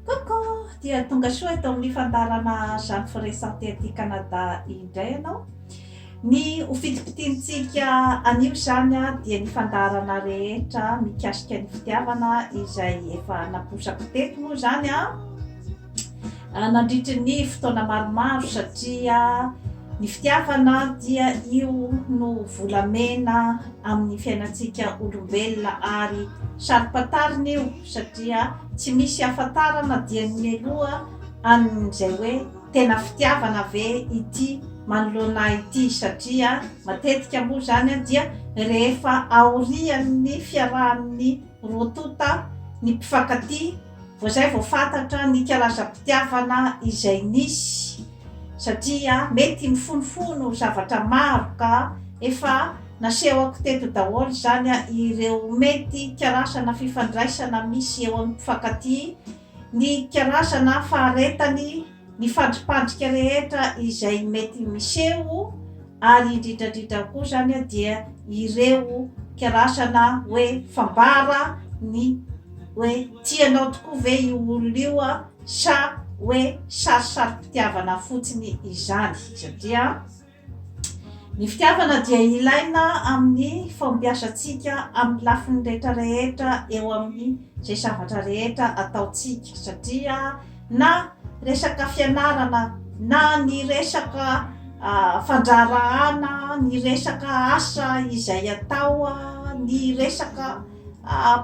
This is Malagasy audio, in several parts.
Coucou! Dia tonga soa eto amin'ny fandaharana Jeanne Ferret Santé aty Canada indray ianao. Ny ho fitipitiantsika anio izany dia ny fandaharana rehetra mikasika ny fitiavana izay efa naposako teto moa izany nandritry ny fotoana maromaro satria ny fitiavana dia io no volamena amin'ny fiainantsika olombelona ary saro-pantarina io. satria tsy misy hiafantarana dia ny mialoha an'izay hoe tena fitiavana ve ity manoloana ahy ity satria matetika moa izany dia rehefa aorian'ny fiarahan'ny roa tonta ny mpifankatia vao izay vao fantatra ny kalaza-pitiavana izay nisy satria mety mifonofono zavatra maro ka efa nasehoko teto daholo izany ireo mety karazana fifandraisana misy eo amin'ny mpifankatia, ny karazana faharetany, ny fandripandrika rehetra izay mety miseho. ary indrindradrindra koa zany dia ireo kirarsana hoe fambara ny hoe tia anao tokoa ve io olona io sa hoe sarisarim-pitiavana fotsiny izany satria ny fitiavana dia ilaina amin'ny fampiasantsika amin'ny lafiny rehetra rehetra eo amin'ny izay zavatra rehetra ataontsika satria na resaka fianarana na ny resaka fandraharahana, ny resaka asa izay atao, ny resaka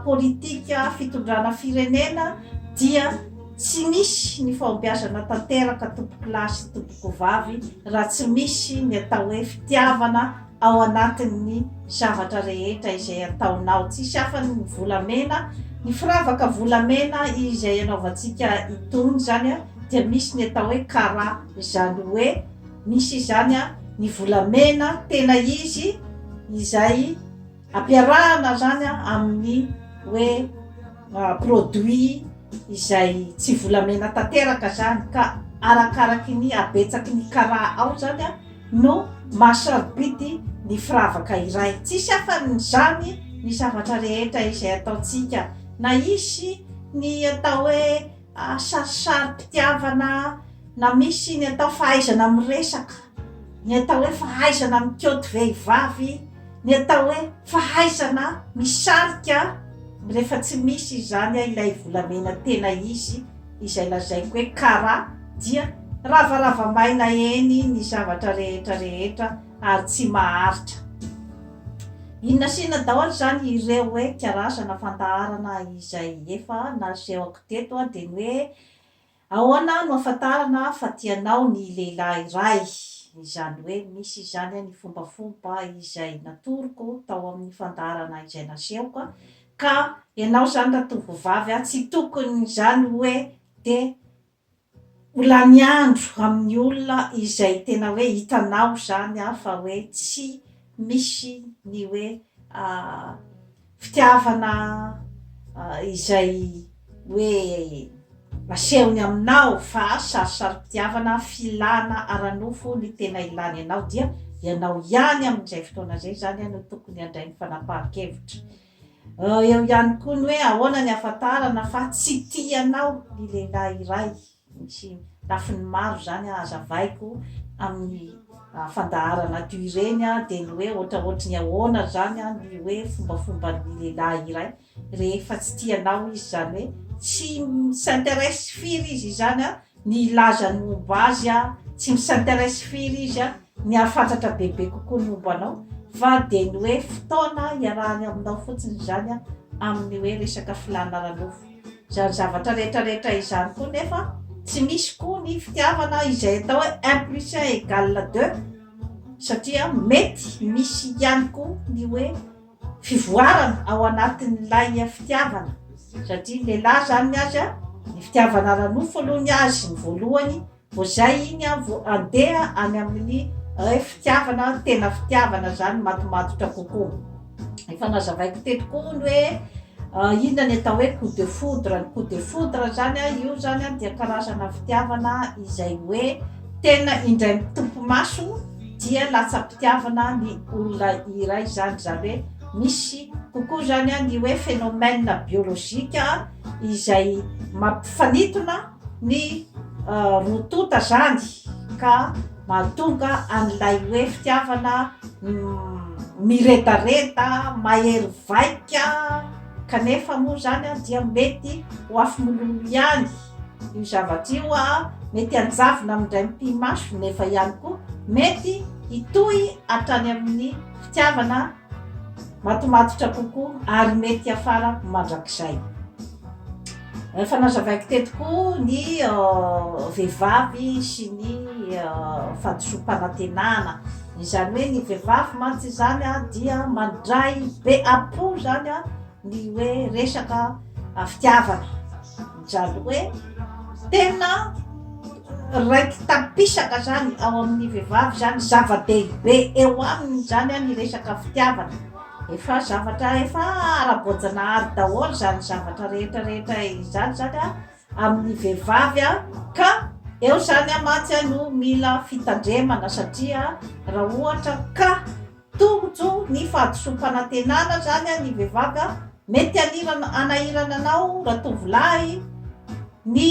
politika fitondrana firenena dia tsy misy ny fahombiazana tanteraka tompokolahy sy tompokovavy raha tsy misy ny atao hoe fitiavana. ao anatin'ny zavatra rehetra izay ataonao. Tsisy afany ny volamena, ny firavaka volamena izay anaovantsika itony izany dia misy ny atao hoe kara, izany hoe misy izany ny volamena tena izy izay. Ampiarahana izany amin'ny hoe produit izay tsy volamena tanteraka izany ka arakaraky ny habetsaky ny kara ao izany no maha sarobidy ny firavaka iray. Tsisy afan'izany ny zavatra rehetra izay ataontsika na hisy ny atao hoe Sarisari-pitiavana na misy ny atao fahaizana miresaka, ny atao hoe fahaizana mikoty vehivavy, ny atao hoe fahaizana misarika rehefa tsy misy izany ilay volamena tena izy izay lazaiko hoe kara dia ravarava maina eny ny zavatra rehetra rehetra ary tsy maharitra. Inona sy inona daholo izany ireo hoe karazana fandaharana izay efa nasehoko teto dia ny hoe ahoana no ahafantarana fa tianao ny lehilahy iray, izany hoe misy izany ny fombafomba izay natoroko tao amin'ny fandaharana izay nasehoko ka ianao izany ratovovavy tsy tokony izany hoe dia Ho lany andro amin'ny olona izay tena hoe hitanao izany fa hoe tsy misy ny hoe fitiavana izay hoe asehony aminao fa sarisari-pitiavana filana ara-nofo ny tena ilany anao dia ianao ihany amin'izay fotoana izay izany no tokony handray ny fanapahan-kevitra. Eo ihany koa ny hoe ahoana ny ahafantarana fa tsy tia anao ny lehilahy iray. Misy lafiny maro izany hazavaiko amin'ny fandaharana toy ireny dia ny hoe ohatraohatry ny ahoana izany ny hoe fombafomban'ny lehilahy iray rehefa tsy tia anao izy. Izany hoe tsy mi-s'interesse firy izy izany ny hilazany momba azy, tsy mi-s'interesse firy izy ny hahafantatra bebe kokoa ny momba anao fa dia ny hoe fotoana iarahany aminao fotsiny izany amin'ny hoe resaka filàna ara-nofo. Izany zavatra rehetra rehetra izany koa nefa tsy misy koa ny fitiavana izay atao hoe un plus un égale deux satria mety misy ihany koa ny hoe fivoarana ao anatin'ilay fitiavana satria ny lehilahy izany ny azy ny fitiavana ara-nofo aloha ny azy ny voalohany Vao zay iny aho vao andeha any amin'ny Ref fitiavana tena fitiavana zany matomatotra kokoa. Efa nazavaiko teto koa ny hoe inona ny atao hoe coup de foudre. Ny coup de foudre zany a, io zany a dia karazana fitiavana izay hoe tena indray mitopy maso dia latsam-pitiavana ny olona iray zany. Zany hoe misy kokoa zany a ny hoe phénomène biologique izay mampifanintona. ny roa tonta izany ka mahatonga an'ilay hoe fitiavana miredareda, mahery vaika kanefa moa izany dia mety ho afomololo ihany io zavatra io, mety hanjavona amin'indray mipi-maso nefa ihany koa mety hitohy hatrany amin'ny fitiavana. matomatotra kokoa ary mety hiafara mandrakizay. Efa nazavaiko teto koa ny vehivavy sy ny fadisoam-panantenana, izany hoe ny vehivavy mantsy izany dia mandray be apo izany. Ny hoe resaka fitiavana zany hoe tena raiki-tampisaka zany ao amin'ny vehivavy zany zava-dehibe eo aminy zany ny resaka fitiavana, efa zavatra efa ara-boajanahary daholo zany zavatra rehetra rehetra izany zany amin'ny vehivavy ka eo zany mantsy no mila fitandremana satria raha ohatra ka Tojo ny fahadisoam-panantenana zany an ny vehivavy an! Mety hanirana hanahirana anao ratovolahy ny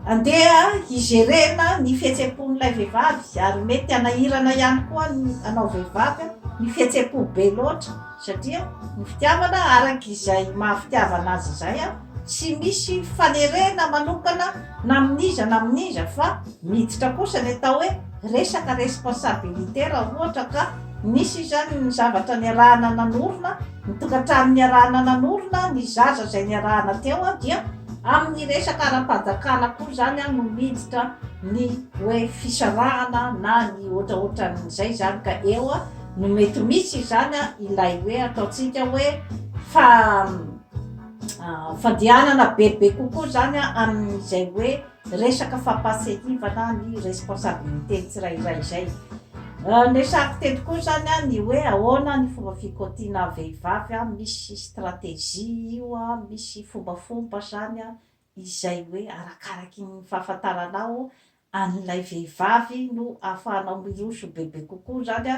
handeha hi-gerena ny fihetseham-pon'ilay vehivavy ary mety hanahirana ihany koa ny anao vehivavy an! ny fihetseham-po be loatra satria ny fitiavana araka izay maha fitiavana azy izay an! Tsy misy fanerena manokana na amin'iza na amin'iza fa miditra kosa ny atao hoe resaka responsabilité raha ohatra ka nisy izany ny zavatra niarahana nanorina, ny tokantrano niarahana nanorina, ny zaza izay niarahana teo dia amin'ny resaka ara-panjakana koa izany no miditra ny hoe fisarahana na ny ohatraohatran'izay izany ka eo no mety misy izany ilay hoe ataontsika hoe fa Fandehanana bebe kokoa izany amin'izay hoe resaka fampahatsiahivana ny responsabilité-n'ny tsirairay izay. Niresahako teto koa izany ny hoe ahoana ny fomba fikaotiana vehivavy, misy stratégie io, misy fombafomba izany izay hoe arakaraky ny fahafantaranao an'ilay vehivavy no ahafahanao miroso bebe kokoa izany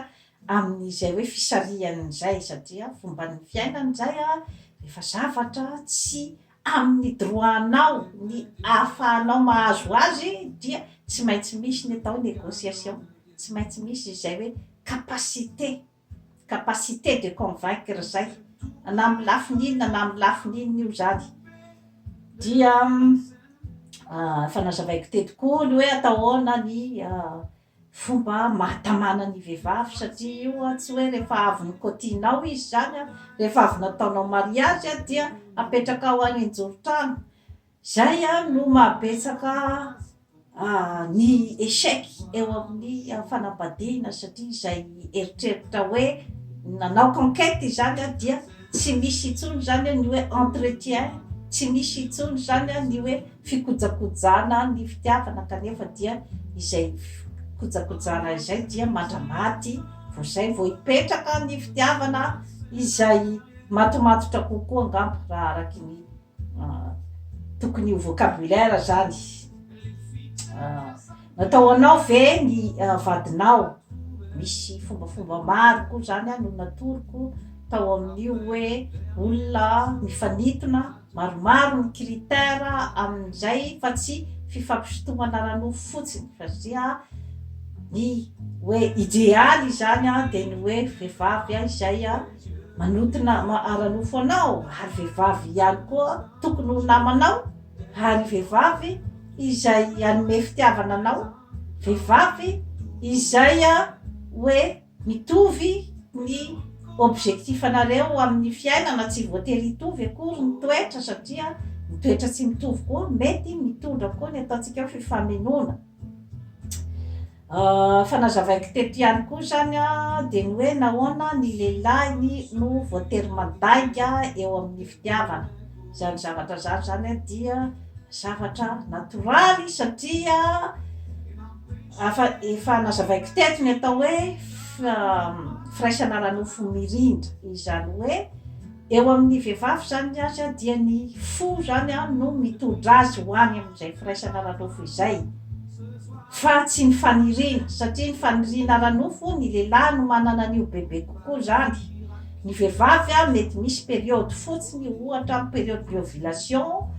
amin'izay hoe fisarihany izay satria fomban'ny fiainany izay an, rehefa zavatra tsy amin'ny droit-nao ny ahafahanao mahazo azy dia tsy maintsy misy ny atao hoe négociation, tsy maintsy misy izay hoe capacité. capacité de convaincre izay, na amin'ny lafiny inona na amin'ny lafiny inona io izany. Dia efa nazavaiko teto koa ny hoe atao ahoana ny fomba mahatamana ny vehivavy satria io tsy hoe rehefa avy nokaotihinao izy izany, rehefa avy nataonao mariazy dia apetrakao any an-joron-trano Izay ary no mahabetsaka ny échec eo amin'ny fanambadiana satria izay eritreritra hoe nanao conquête izany dia tsy misy intsony izany ny hoe entretien, tsy misy intsony izany ny hoe fikojakojana ny fitiavana kanefa dia izay fikojakojana izay dia mandra-maty vao izay vao hipetraka ny fitiavana izay matomatotra kokoa angamba raha araka ny Tokony ho vocabulaire zany. Natao ho anao ve ny vadinao? Misy fombafomba maro koa zany no natoroko tao amin'io hoe olona mifanintona maromaro ny critère amin'izay fa tsy fifampisintomana ara-nofo fotsiny fa zia ny hoe idealy izany dia ny hoe vehivavy izay Manota nama ara-nofo anao ary vehivavy ihany koa tokony ho namanao ary vehivavy izay hanome fitiavana anao, vehivavy izay hoe mitovy ny objectif-nareo amin'ny fiainana, tsy voatery hitovy akory ny toetra satria ny toetra tsy mitovy koa mety mitondra koa ny ataontsika hoe fifamenoana. Fa nazavaiko teto ihany koa izany dia ny hoe nahoana ny lehilahy no voatery mandainga eo amin'ny fitiavana. Izany zavatra izany izany dia zavatra natoraly satria afa efa nazavaiko teto ny atao hoe firaisana ara-nofo mirindra, izany hoe. Eo amin'ny vehivavy izany ny azy dia ny fo izany no mitondra azy ho any amin'izay firaisana ara-nofo izay fa tsy ny faniriana satria ny faniriana ara-nofo ny lehilahy no manana an'io bebe kokoa izany, ny vehivavy mety misy période fotsiny ohatra période de ovulation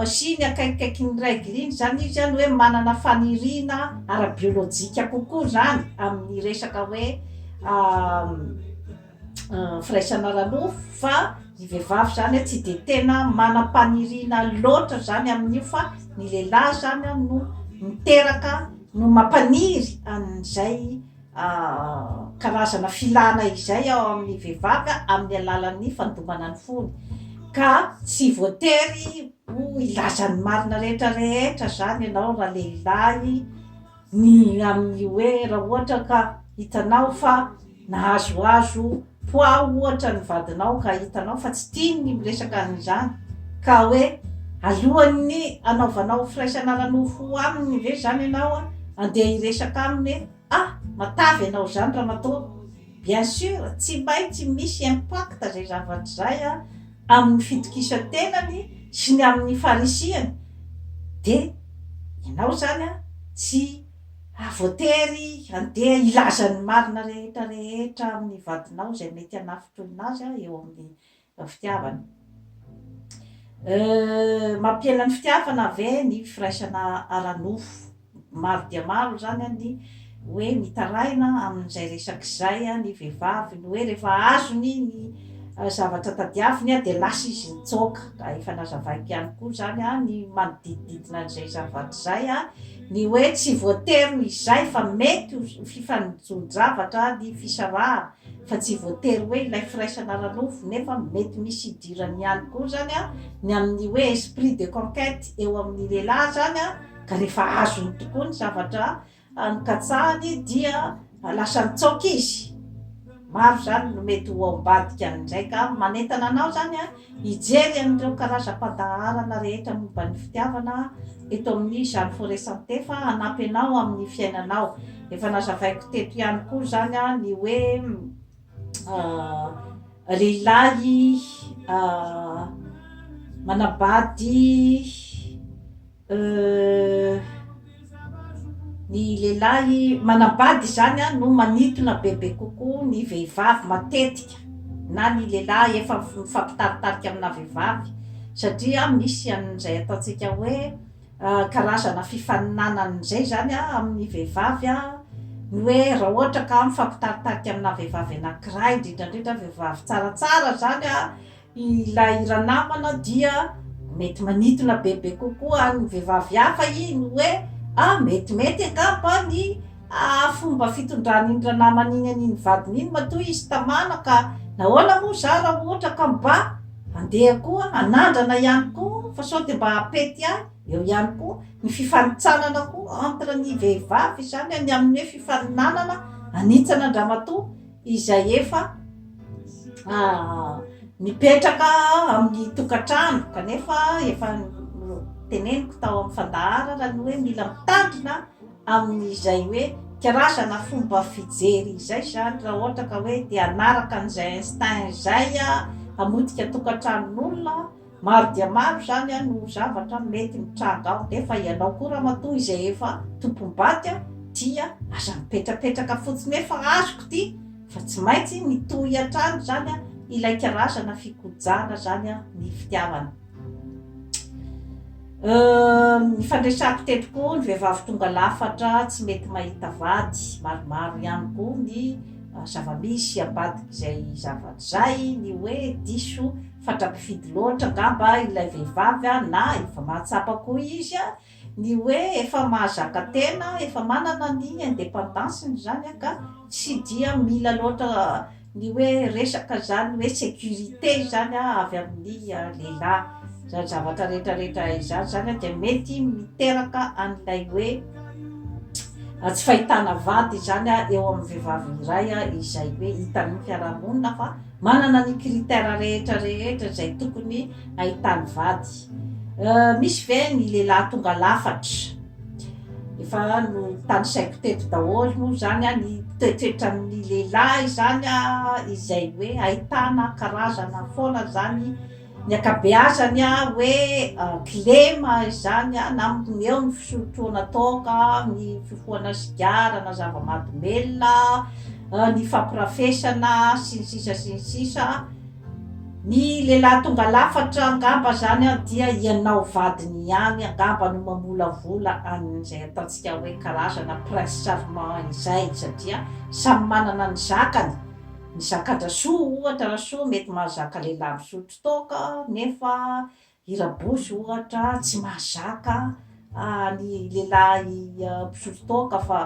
sy ny akaikikaikin'ny règle iny izany izy no hoe manana faniriana ara-biolojika kokoa izany amin'ny resaka hoe firaisana ara-nofo fa ny vehivavy izany tsy dia tena manam-paniriana loatra izany amin'io fa ny lehilahy izany no miteraka no mampaniry an'izay karazana filana izay ao amin'ny vehivavy amin'ny alalan'ny fandomana ny fony ka tsy voatery ho hilaza ny marina rehetra rehetra izany ianao ralehilahy Ny amin'ny hoe raha ohatra ka hitanao fa nahazoazo poids ohatra ny vadinao ka hitanao fa tsy tiany ny miresaka an'izany ka hoe alohan'ny hanaovanao firaisana ara-nofo aminy ve izany ianao andeha hiresaka aminy hoe ah matavy ianao izany ramatoa? Bien sûr tsy maintsy misy impact izay zavatra izay an! amin'ny fitokisan-tenany sy ny amin'ny farisihany, dia ianao izany tsy ha voatery handeha hilaza ny marina rehetra rehetra amin'ny vadinao izay mety hanafintohina azy eo amin'ny fitiavana. Mampihena ny fitiavana ve ny firaisana ara-nofo? Maro dia maro izany ny hoe mitaraina amin'izay resaka izay ny vehivavy, ny hoe rehefa azony ny zavatra tadiaviny dia lasa izy nitsoaka. Ka efa nazavaiko ihany koa izany ny manodidididina an'izay zavatra izay, ny hoe tsy voatery ho izay fa mety ho fifanonjon-javatra ny fisarahana fa tsy voatery hoe ilay firaisana ara-nofo nefa mety misy idirany ihany koa izany ny amin'ny hoe esprit de conquête eo amin'ny lehilahy izany. ka rehefa azony tokoa ny zavatra nokatsahany dia lasa nitsaoka izy. Maro izany no mety ho ao ambadika any indray, ka manentana anao izany hijery an'ireo karazam-pandaharana rehetra momba ny fitiavana eto amin'ny Jeanne Fauré Santé fa hanampy anao amin'ny fiainanao. Efa nazavaiko teto ihany koa izany ny hoe lehilahy manambady. Ny lehilahy manambady izany no manintona bebe kokoa ny vehivavy matetika na ny lehilahy efa mifampitaritarika amina vehivavy satria misy an'izay ataontsika hoe karazana fifaninanana izay izany amin'ny vehivavy ny hoe raha ohatra ka mifampitaritarika amina vehivavy anankiray indrindra indrindra vehivavy tsaratsara izany Ilay ranamana dia mety manintona bebe kokoa an'ny vehivavy hafa iny hoe a! metimety angamba ny fomba fitondran'iny ranamana iny an'iny vadiny iny matoa izy tamana ka nahoana moa za raha ohatra ka mba handeha koa hanandrana ihany koa fa sao dia mba hampety ahy, eo ihany koa ny fifanintsanana koa entre ny vehivavy izany ny amin'ny hoe fifaninanana hanitsana an-dramatoa izay efa mipetraka amin'ny tokantrano kanefa efa teneniko tao amin'ny fandaharana ny hoe mila mitandrina amin'izay hoe karazana fomba fijery izay izany raha ohatra ka hoe te hanaraka an'izay instinct izay hamotika tokantranon'olona Maro dia maro izany an no zavatra mety mitranga ao nefa ianao koa ramatoa izay efa tompom-bady an dia aza mipetrapetraka fotsiny efa azoko ty fa tsy maintsy mitohy hatrany izany an ilay karazana fikojana izany an ny fitiavana euh ny fandresako teto koa ny vehivavy tonga lafatra tsy mety mahita vady maromaro ihany koa ny zavamisy ambadik'izay zavatra izay ny hoe diso Fatra-pifidy loatra angamba ilay vehivavy a, na efa mahatsapa koa izy a, ny hoe efa mahazaka tena, efa manana ny independance-ny zany a, ka tsy dia mila loatra ny hoe resaka zany hoe sécurité zany a avy amin'ny lehilahy. Zany zavatra retraretra izany zany a dia mety miteraka an'ilay hoe tsy fahitana vady zany a eo amin'ny vehivavy iray a izay hoe hitan'ny fiarahamonina fa Manana ny critère rehetra rehetra izay tokony ahitany vady euh misy ve ny lehilahy tonga lafatra? efa notanisaiko teto daholo moa izany an ny toetoetran'ny lehilahy izany an izay hoe ahitana karazana foana izany Ny ankabeazany a hoe kilema izany a na eo ny fisotroana toaka, ny fifohana sigara na zava-mahadomelina, ny fampirafesana sy ny sisa sy ny sisa. Ny lehilahy tonga lafatra angamba izany a dia ianao vadiny ihany angamba no mamolavola an'izay ataontsika hoe karazana prince charmant izay satria samy manana ny zakany. Ny sakata soa ohatra ra soa mety mahazaka lehilahy misotro toaka nefa i rabosy ohatra tsy mahazaka ny lehilahy mpisotro toaka fa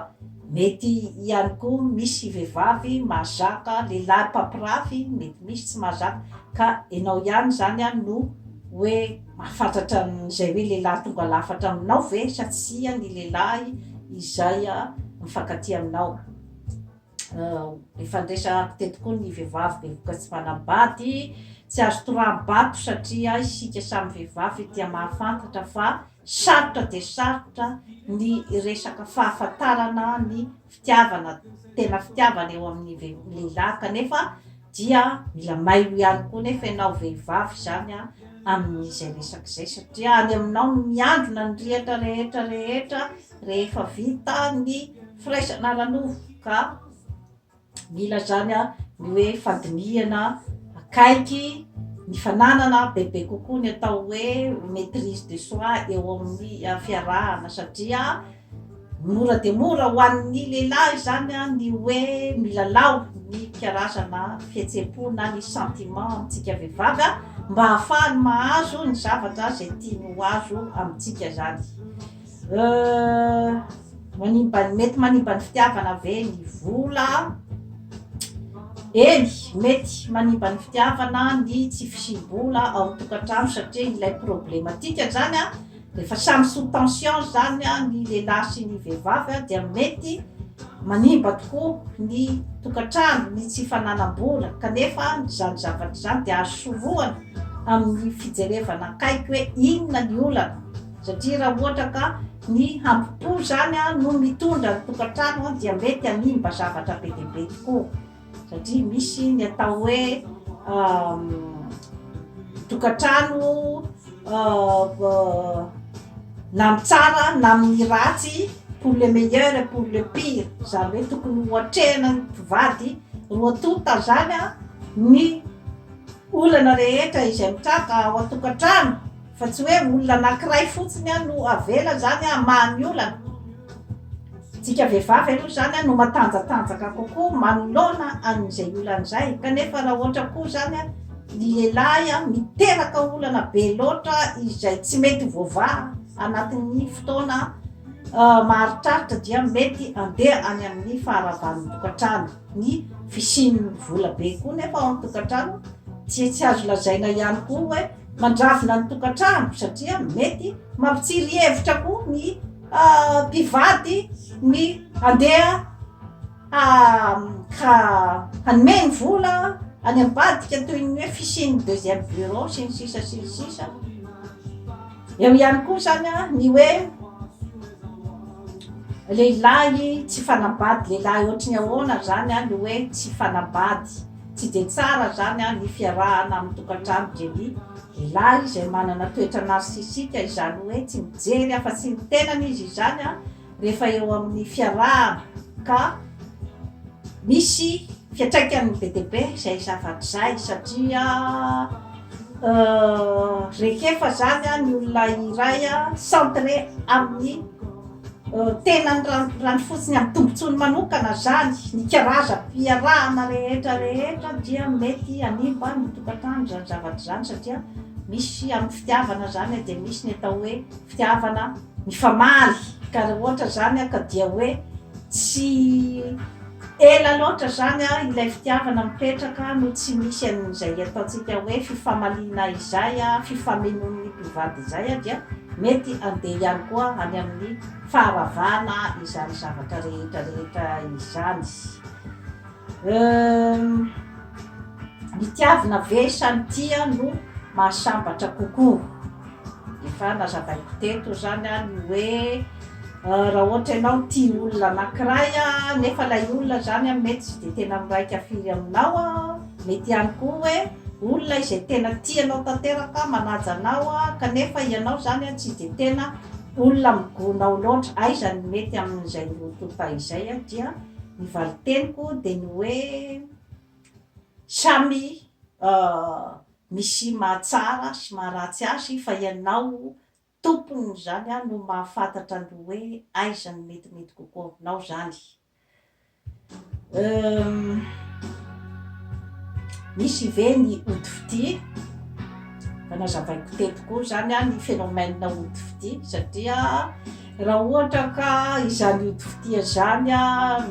mety ihany koa misy vehivavy mahazaka lehilahy mpampirafy mety misy tsy mahazaka ka enao ihany zany an no hoe mahafantatra an'izay hoe lehilahy tonga lafatra aminao ve sa tsia ny lehilahy izay mifankatia aminao. Efa niresahako teto koa ny vehivavy bevoka tsy manambady, tsy azo toraham-bato satria isika samy vehivavy dia mahafantatra fa sarotra dia sarotra ny resaka fahafantarana ny fitiavana, tena fitiavana eo amin'ny ve- lehilahy kanefa dia mila mailo ihany koa nefa ianao vehivavy izany a, amin'izay resaka izay satria any aminao no miandrona ny rihatra rehetra rehetra. rehefa vita ny firaisana ara-nofo ka mila zany ny hoe fandinihana akaiky ny fananana bebe kokoa ny atao hoe maitrise de soi eo amin'ny fiarahana satria mora dia mora ho an'ny lehilahy izany ny hoe milalao ny karazana fihetsem-po na ny sentiment amintsika vehivavy mba hahafahany mahazo ny zavatra izay tiany ho azo amintsika izany Manimba ny, mety manimba ny fitiavana ve ny vola? Eny, mety manimba ny fitiavana ny tsy fisiam-bola ao an-tokantrano satria ilay problematika zany a, rehefa samy sous tension zany a ny lehilahy sy ny vehivavy a dia mety manimba tokoa ny tokantrano ny tsy fananam-bola kanefa izany zavatra izany dia azo sorohana amin'ny fijerevana akaiky hoe inona ny olana. Satria raha ohatra ka ny hambo-po izany no mitondra ny tokantrano dia mety hanimba zavatra be dia be tokoa. Satria misy ny atao hoe tokantrano na ny tsara na ny ratsy, pour le meilleur et pour le pire, izany hoe tokony ho atrehina ny mpivady roa tonta izany ny. Olana rehetra izay mitranga ao an-tokantrano fa tsy hoe olona anankiray fotsiny no avela izany hamaha ny olana. Isika vehivavy aloha izany no matanjatanjaka kokoa manoloana an'izay olana izay kanefa raha ohatra koa izany ny lehilahy miteraka olana be loatra izay tsy mety ho voavaha anatin'ny fotoana maharitraritra dia mety handeha any amin'ny faharavan'ny tokantrano. Ny fisian'ny vola be koa nefa ao amin'ny tokantrano dia tsy azo lazaina ihany koa hoe mandravona ny tokantrano satria mety mampitsiry hevitra koa ny mpivady ny handeha hanome ny vola any ambadika toy ny hoe fisian'ny deuxième bureau sy ny sisa sy ny sisa. Eo ihany koa izany ny hoe lehilahy tsy fanambady, lehilahy ohatry ny ahoana izany no hoe tsy fanambady. Tsy dia tsara izany ny fiarahana amin'ny tokantrano dia ny lehilahy izay manana toetra narcisique, izany hoe tsy mijery afa-tsy ny tenany izy izany. rehefa eo amin'ny fiarahana ka misy fiantraikany be dia be izay zavatra izay satria rehefa izany ny olona iray centré amin'ny tenany raha ny fotsiny amin'ny tombontsoany manokana izany ny karazam-piarahana rehetra rehetra dia mety hanimba ny tokantrano izany zavatra izany satria misy amin'ny fitiavana izany dia misy ny atao hoe fitiavana Mifamaly, ka raha ohatra zany aho ka dia hoe tsy ela loatra zany an ilay fitiavana mipetraka no tsy misy an'izay ataontsika hoe fifamaliana izay an, fifamenoan'ny mpivady izay an dia mety handeha ihany koa any amin'ny faharavana izany zavatra rehetra rehetra izany. Uhm. Ny tiavina ve sa ny tia no mahasambatra kokoa? Efa nazavaiko teto izany aho ny hoe raha ohatra ianao tia olona anankiray nefa ilay olona izany mety tsy dia tena miraika firy aminao, mety ihany koa hoe olona izay tena tia anao tanteraka, manaja anao kanefa ianao izany tsy dia tena olona migona ao loatra. Aiza no mety amin'izay roa tonta izay dia. Ny valin-teniko dia ny hoe samy misy mahatsara sy maharatsy azy fa ianao tompon'izany no mahafantatra ny hoe aiza no metimety kokoa aminao izany. Misy ve ny ody fitia? Efa nazavaiko teto koa izany ny phénomène ody fitia satria. Raha ohatra ka izany ody fitia izany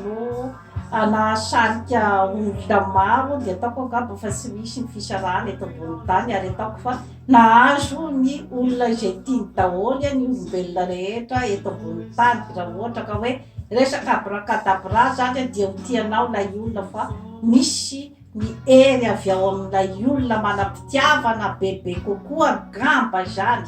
no hanahasarika olona maro dia ataoko angamba fa tsy misy ny fisarahana eto ambony tany ary ataoko fa nahazo ny olona izay tiany daholo ny olombelona rehetra eto ambony tany raha ohatra ka hoe resaka abrakadabra izany dia ho tianao ilay olona fa misy Ny hery avy ao amin'ilay olona manam-pitiavana bebe kokoa angamba izany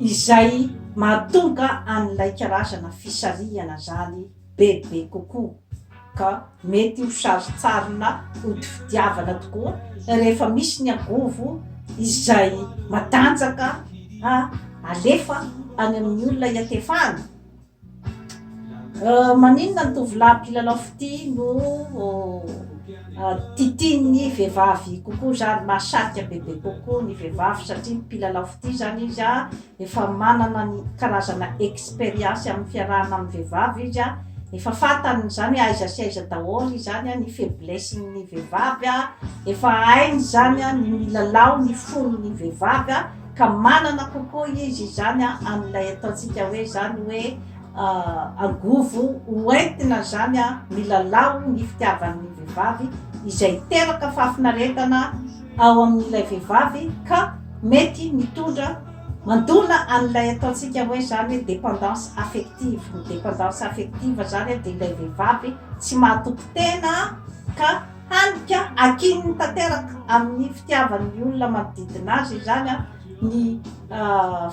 izay mahatonga an'ilay karazana fisarihana izany bebe kokoa, ka mety ho sarintsarina hodi-fitiavana tokoa rehefa misy ny angovo izay matanjaka alefa any amin'ny olona iatefahana. Maninona ny tovolahy mpilalao fitia no titian'ny vehivavy kokoa izany, mahasarika bebe kokoa ny vehivavy satria mpilalao fitia izany izy an, efa manana ny karazana expérience amin'ny fiarahana amin'ny vehivavy izy an, efa fantany izany aiza sy aiza daholo izany an, ny faiblessen'ny vehivavy an, efa hainy izany an, ny milalao ny fon'ny vehivavy an. Ka manana kokoa izy izany amin'ilay ataontsika hoe izany hoe angovo hoentina izany milalao ny fitiavan'ny vehivavy izay hiteraka fahafinaretana ao amin'ilay vehivavy ka mety mitondra mandona an'ilay ataontsika hoe izany hoe dépendance affective. Ny dépendance affective izany dia ilay vehivavy tsy mahatoky tena ka. Handika akininy tanteraka amin'ny fitiavan'ny olona manodidina azy izany ny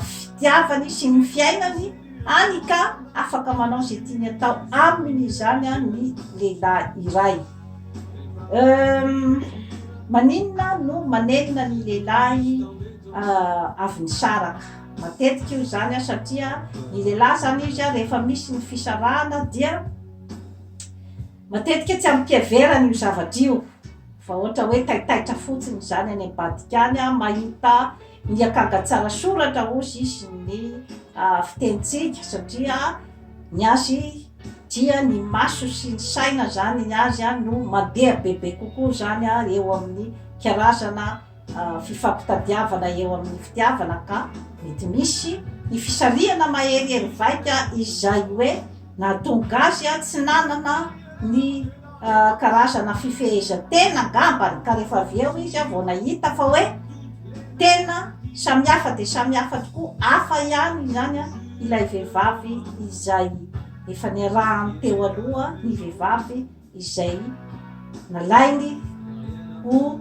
fitiavany sy ny fiainany, hany ka afaka manao izay tiany atao aminy izany ny lehilahy iray. Maninona no manenina ny lehilahy avy nisaraka? Matetika io izany satria ny lehilahy izany izy rehefa misy ny fisarahana dia Matetika tsy amim-piheverana io zavatra io fa ohatra hoe taitaitra fotsiny izany any ambadika any mahita ny akanga tsara soratra hozy izy ny fitenintsika satria ny azy dia ny maso sy ny saina izany ny azy no mandeha bebe kokoa izany eo amin'ny karazana fifampitadiavana eo amin'ny fitiavana ka mety misy ny fisarihana maherihery vaika izay hoe nahatonga azy tsy nanana ny karazana fifehezan-tena angambany ka rehefa avy eo izy vao nahita fa hoe tena samy hafa dia samy hafa tokoa, hafa ihany izany ilay vehivavy izay efa niarahany teo aloha ny vehivavy. izay nalainy ho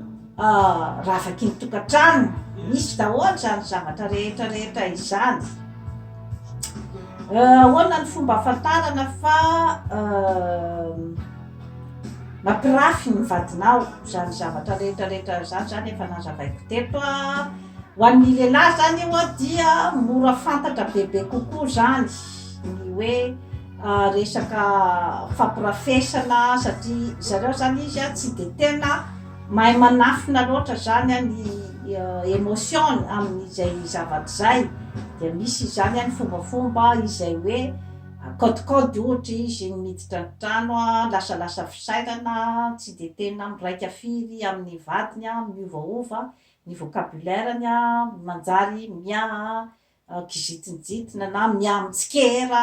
ravaky ny tokantrano, misy daholo izany zavatra rehetra rehetra izany. Ahoana ny fomba ahafantarana fa mampirafy ny vadinao izany zavatra rehetra rehetra izany, izany efa nazavaiko teto an, ho an'ny lehilahy izany io an dia mora fantatra bebe kokoa izany ny hoe. resaka fampirafesana satria zareo zany izy a tsy de tena mahay manafina loatra zany a ny emotion-ny amin'izay zavatra izay dia misy izany a ny fombafomba izay hoe akaodikaody ohatra izy ny miditra ny trano a lasalasa fisainana tsy de tena miraika firy amin'ny vadiny a miovaova ny vocabulaire-ny a manjary miaha kizintinjitina na mihamitsikera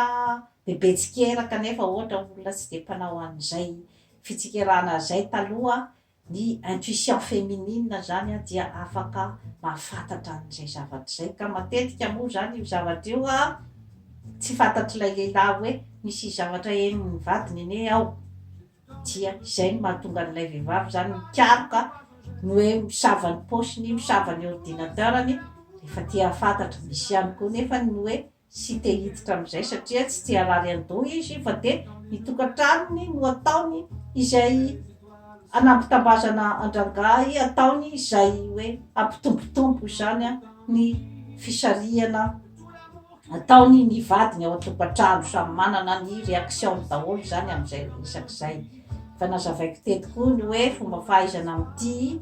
bebe tsikera kanefa ohatra olona tsy dia mpanao an'izay fitsikerana izay taloha, ny intuition féminine izany dia afaka mahafantatra an'izay zavatra izay ka matetika moa izany io zavatra io tsy fantatr'ilay lehilahy hoe misy zavatra henon'ny vadiny anie ao. Dia izay no mahatonga an'ilay vehivavy izany mikaroka ny hoe misava ny paosiny, misava ny ordinateur-ny, rehefa te hahafantatra. Misy ihany koa nefa ny hoe tsy te hiditra amin'izay satria tsy te harary an-doha izy fa dia ny tokantranony no ataony izay hanambitambazana an-drangahy, ataony izay hoe hampitombotombo izany ny fisarihana. Ataony ny vadiny ao an-tokantrano, samy manana ny reaction-ny daholo izany amin'izay resaka izay. Efa nazavaiko teto koa ny hoe fomba fahaizana mitia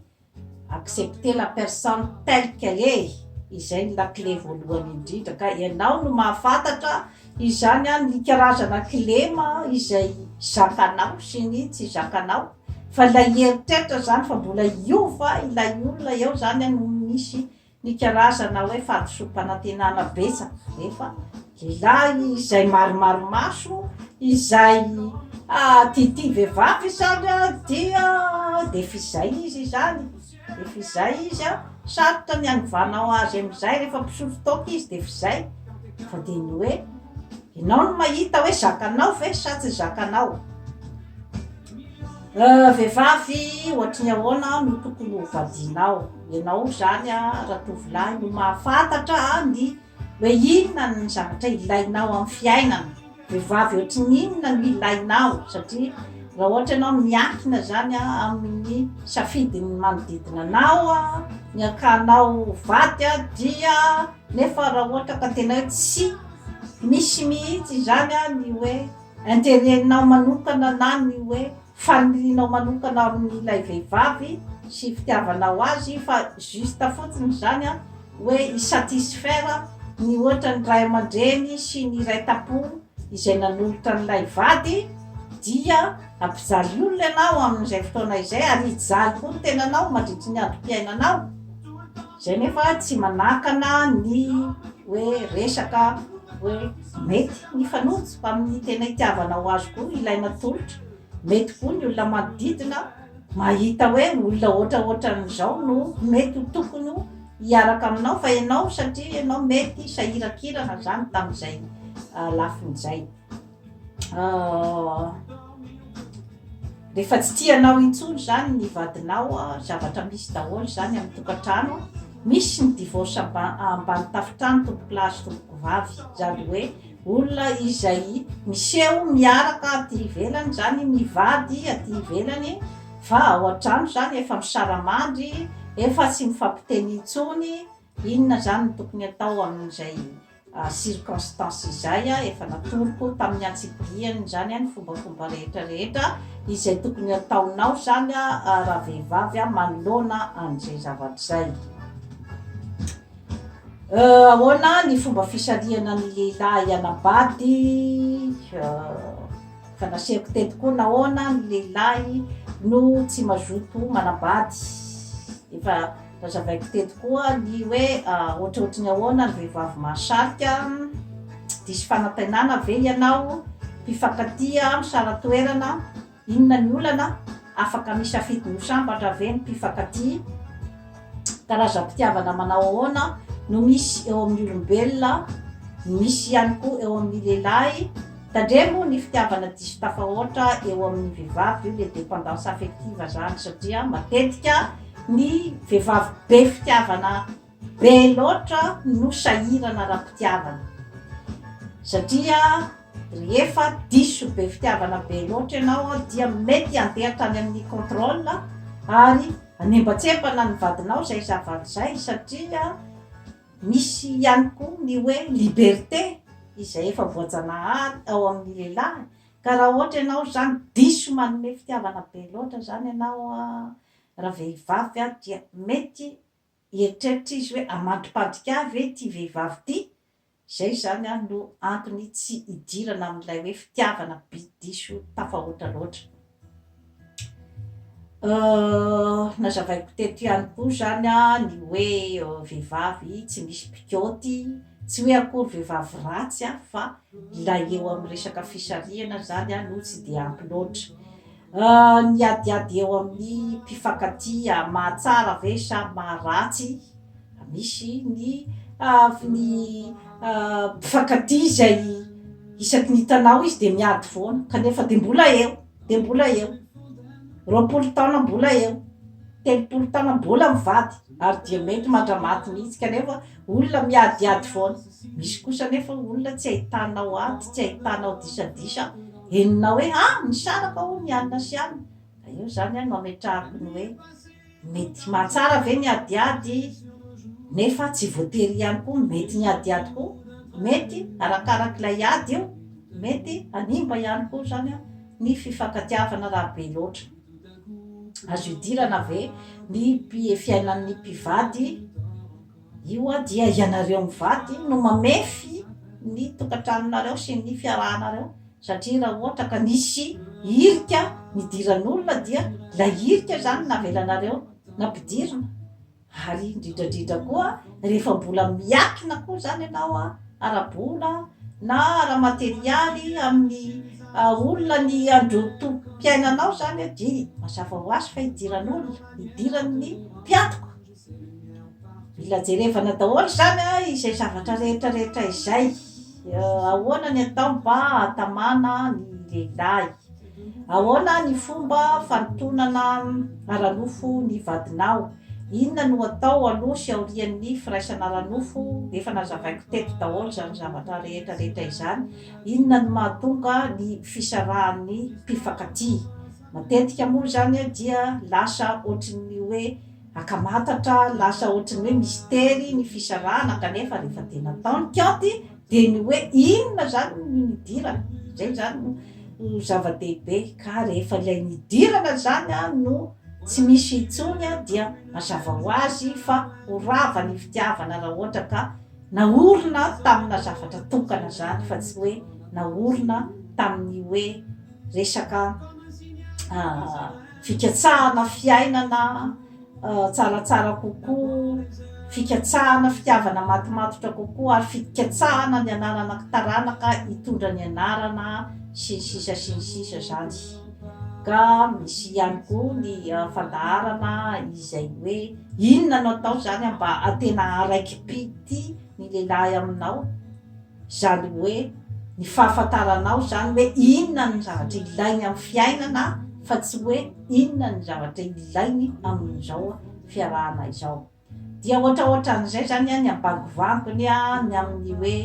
accepter la personne telle qu'elle est, izay ny lakile voalohany indrindra, ka ianao no mahafantatra izany an, ny karazana kilema izay zakanao sy ny tsy zakanao, fa ilay eritreritra izany fa mbola hiova ilay olona eo izany an no misy Ny karazana hoe fahadisoam-panantenana betsaka rehefa lehilahy izay maromaro maso, izay tiatia vehivavy izany dia dia f'izay izy izany, dia f'izay izy an, sarotra ny hanovana azy amin'izay rehefa mpisotro toaka izy dia f'izay, fa dia ny hoe ianao no mahita hoe zakanao ve sa tsy zakanao. Vehivavy ohatry ny ahoana no tokony ho vadianao? Ianao izany ratovolahy no mahafantatra ny hoe inona ny zavatra ilainao amin'ny fiainana. Vehivavy ohatry ny inona no ilainao? Satria raha ohatra ianao miankina izany amin'ny safidin'ny manodidina anao ny hakanao ho vady dia, nefa raha ohatra ka tena hoe tsy misy mihitsy izany ny hoe. Intérêt nao manokana na ny hoe fanirianao manokana amin ilay vehivavy sy fitiavanao azy fa juste fotsiny izany an, hoe hi satisfaire ny ohatra ny ray aman-dreny sy ny iray tapo izay nanolotra an'ilay vady dia hampijaly olona ianao amin'izay fotoana izay ary hijaly koa ny tenanao mandritry ny androm-piainanao. Zay nefa tsy manakana ny hoe resaka hoe mety mifanojo fa amin'ny tena itiavanao azy koa ilay natolotra, mety koa ny olona manodidina mahita hoe olona ohatraohatran'izao no mety ho tokony hiaraka aminao fa ianao satria ianao mety sahirakirana zany tamin'izay lafiny izay. Rehefa tsy tia anao intsony zany ny vadinao, zavatra misy daholo zany amin'ny tokantrano, misy ny divorce ambany tafontrano tompoko lahy sy tompoko vavy, zany hoe olona izay miseho miaraka aty ivelany zany mivady aty ivelany fa ao antrano zany efa misaramandry, efa tsy mifampiteny intsony, Inona izany no tokony atao amin'izay circonstances izay? Efa natoroko tamin'ny antsipiriany izany ny fombafomba rehetra rehetra izay tokony ataonao izany raha vehivavy manoloana an'izay zavatra izay. Ahoana ny fomba fisarihana ny lehilahy hianabady? Efa nasehoko teto koa nahoana ny lehilahy no tsy mazoto manabady. Efa. Nazavaiko teto koa ny hoe ohatrohatry ny ahoana ny vehivavy mahasarika, diso fanantenana ve ianao, mpifankatia, misara-toerana, inona ny olana, afaka misafidy ny ho sambatra ve ny mpifankatia, karazam-pitiavana manao ahoana no misy eo amin'ny olombelona, ny misy ihany koa eo amin'ny lehilahy, tandremo ny fitiavana diso tafahoatra eo amin'ny vehivavy, io le dépendance affective zany satria matetika Ny vehivavy be fitiavana be loatra no sahirana ara-pitiavana satria rehefa diso be fitiavana be loatra ianao dia mety handeha hatrany amin'ny contrôle ary hanembatsembana ny vadinao izay zava-izay satria misy ihany koa ny hoe liberté izay efa voajanahary ao amin'ny lehilahy ka raha ohatra ianao izany diso manome fitiavana be loatra izany ianao Raha vehivavy aho dia mety hieritreritra izy hoe hamantompadika ahy ve ity vehivavy ity, izay izany ary no antony tsy hidirana amin'ilay hoe fitiavana be diso tafahoatra loatra. Nazavaiko teto ihany koa izany ny hoe vehivavy tsy misy mpikaoty, tsy hoe akory vehivavy ratsy fa ilay eo amin'ny resaka fisarihana izany no tsy dia ampy loatra. Ny adiady eo amin'ny mpifankatia mahatsara ve sa maharatsy? Misy ny avy ny mpifankatia izay isaky ny hitanao izy dia miady foana kanefa dia mbola eo, dia mbola eo, roapolo taona mbola eo, telopolo taona mbola mivady ary dia mety mandra-maty mihitsy kanefa olona miadiady foana. Misy kosa anefa olona tsy ahitanao ady, tsy ahitanao disadisa, henonao hoe a! misaraka hono i anona sy anona, ka eo izany a no ametrahako ny hoe, mety mahatsara ve ny adiady? nefa tsy voatery ihany koa mety ny adiady koa, mety arakaraka ilay ady io, mety hanimba ihany koa izany a ny fifankatiavana raha be loatra. Azo idirana ve ny mpi, fiainan'ny mpivady Io hoa dia ianareo mivady no mamefy ny tokantranonareo sy ny fiarahanareo satria raha ohatra ka nisy hirika nidiran'olona dia ilay hirika izany navelanareo nampidirina ary indrindrandrindra koa rehefa mbola miankina koa izany ianao ara-bola na ara-materialy amin'ny olona ny androtom-piainanao izany dia mazava ho azy fa idiran'olona, idiran'ny mpiantoka. Mila jerevana daholo izany an, izay zavatra rehetra rehetra izay, ahoana ny atao mba hahatamana ny lehilahy, ahoana ny fomba fanotonana ara-nofo ny vadinao, inona no atao aloha sy aorian'ny firaisana ara-nofo, efa nazavaiko teto daholo izany zavatra rehetra rehetra izany, inona no mahatonga ny fisarahan'ny mpifankatia, matetika moa izany dia lasa ohatry ny hoe. Akamatatra lasa ohatry ny hoe mistery ny fisarahana kanefa rehefa dia natao ny kaonty dia ny hoe inona izany no nidirana izay izany no zava-dehibe ka rehefa ilay nidirana izany no tsy misy intsony dia mazava ho azy fa ho rava ny fitiavana raha ohatra ka naorina tamina zavatra tokana izany fa tsy hoe naorina tamin'ny hoe resaka fikatsahana fiainana tsaratsara kokoa, fikatsahana fitiavana matimatotra kokoa ary fikatsahana ny hananana taranaka hitondra ny anarana sy ny sisa sy ny sisa izany ka misy ihany koa ny fandaharana izay hoe inona no atao izany mba atena araikipidy ny lehilahy aminao Izany hoe ny fahafantaranao izany hoe inona ny zavatra ilainy amin'ny fiainana fa tsy hoe inona ny zavatra ilainy amin'izao fiarahana izao. Dia ohatra ohatra an'izay izany an, ny ambangovangony an, ny amin'ny hoe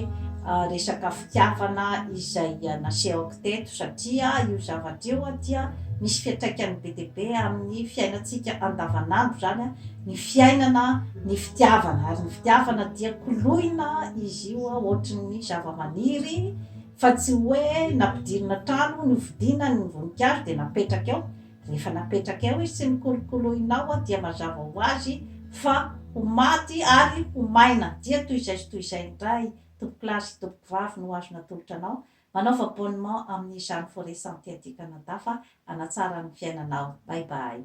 resaka fitiavana izay nasehoko teto satria io zavatra io dia misy fiantraikany be dia be amin'ny fiainantsika andavan'andro izany an, ny fiainana, ny fitiavana, ary ny fitiavana dia koloina izy io ohatry ny zavamaniry fa tsy hoe nampidirina trano nofidina ny voninkazo dia napetraka eo, rehefa napetraka eo izy tsy nokolokoloina ao dia mazava ho azy fa ho maty ary ho maina, dia toy izay sy toy izay indray tompokolahy sy tompokovavy no azo natolotra anao Manaova abonnement amin'ny Jeanne Forest Santé aty Canada fa hanatsara ny fiainanao. Bye bye.